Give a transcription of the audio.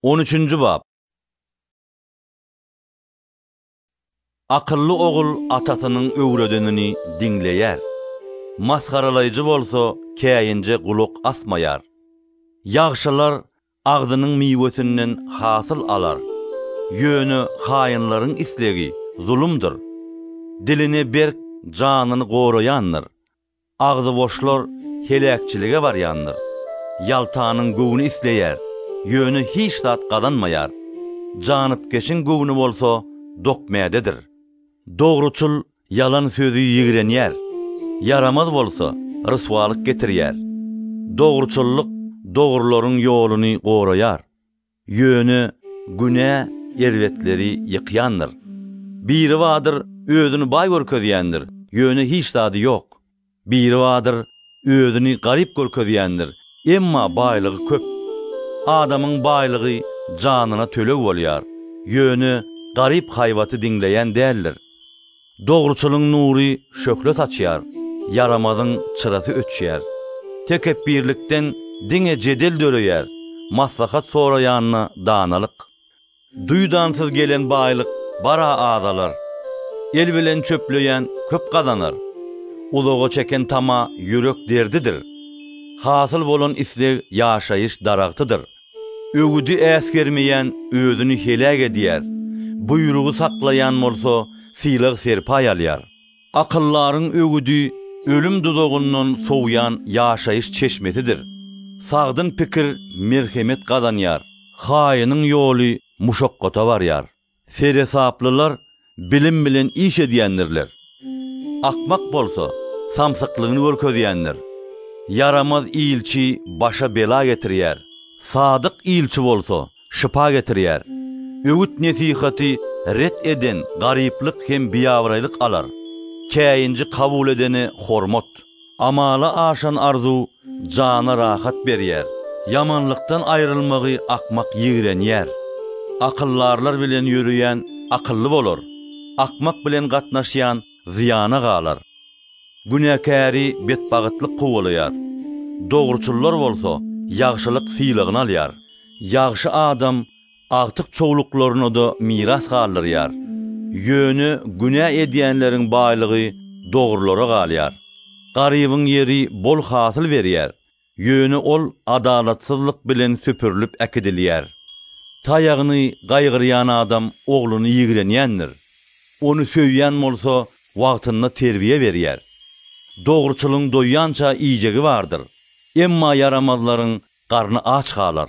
On üçünji bap. Akylly ogul atasynyň öwredenini diňleýär, masgaralaýjy bolsa käýinje gulak asmaýar. Ýagşylar agzynyň miwesinden hasyl alar, ýöne haýynlaryň islegi zulumdyr. Diline berk janyny goraýandyr, Agzy boşlar heläkçilige barýandyr. Ýaltanyň göwni isleýär, ýöne hiç zat gazanmaýar. Janypkeşiň göwni bolsa dokmädedir. Dogruçyl ýalan sözi ýigrenýär, ýaramaz bolsa ryswalyk getirýär. Dogruçyllyk dogrularyň ýoluny goraýar. Ýöne günä erbetleri ýykýandyr. Biri bardyr, özüni baý görkezýändir, ýöne hiç zady ýok. Biri bardyr, özüni garyp görkezýändir, emma baýlygy köp. Adamyň baýlygy janyna töleg bolýar, ýöne garyp haýbaty diňleýän däldir. Dogruçylyň nury şöhle saçýar, ýaramazyň çyrasy öçýär. Tekepbirlikden diňe jedel döreýär, maslahat soraýanda danalyk. Duýdansyz gelen baýlyk bara azalar. El bilen çöpleýän köp gazanar. Uzaga çeken tama ýürek derdidir. Hasyl bolan isleg ýaşaýyş daragtydyr. Öwüdi äsgermeýän özüni heläk edýär, buýrugy saklaýan bolsa sylag-serpaý alýar. Akyldaryň öwüdi ölüm duzagyndan sowýan ýaşaýyş çeşmesidir. Sagdyn pikir merhemet gazanýar, haýynyň ýoly muşakgata barýar. Seresaplylar bilim bilen iş edýändirler. Akmak bolsa, samsyklygyny görkezýändir. Ýaramaz ilçi başa bela getirýär, sadyk ilçi bolsa şypa getirýär. Öwüt-nesihaty ret eden garyplyk hem biabraýlyk alar. Käýinji kabul edene hormat. Amala aşan arzuw jana rahat berýär. Ýamanlykdan aýrylmagy akmak ýigrenýär. Akyldarlar bilen ýöreýän akylly bolar, akmak bilen gatnaşýan zyýana galar. Günäkäri betbagytlyk kowalaýar. Dogruçyllar bolsa ýagşylyk sylagyny alýar. Ýagşy adam Agtyk çowluklaryna-da miras galdyrýar. Ýöne günä edýänleriň baýlygy dogrulara galýar. Garybyň ýeri bol hasyl berýär, ýöne ol adalatsyzlyk bilen süpürilip äkidilýär. Taýagyny gaýgyrýan adam ogluny ýigrenýändir. Ony söýýän bolsa wagtynda terbiýe berýär. Dogruçylyň doýýança iýjegi bardyr, emma ýaramazlaryň garny aç galar.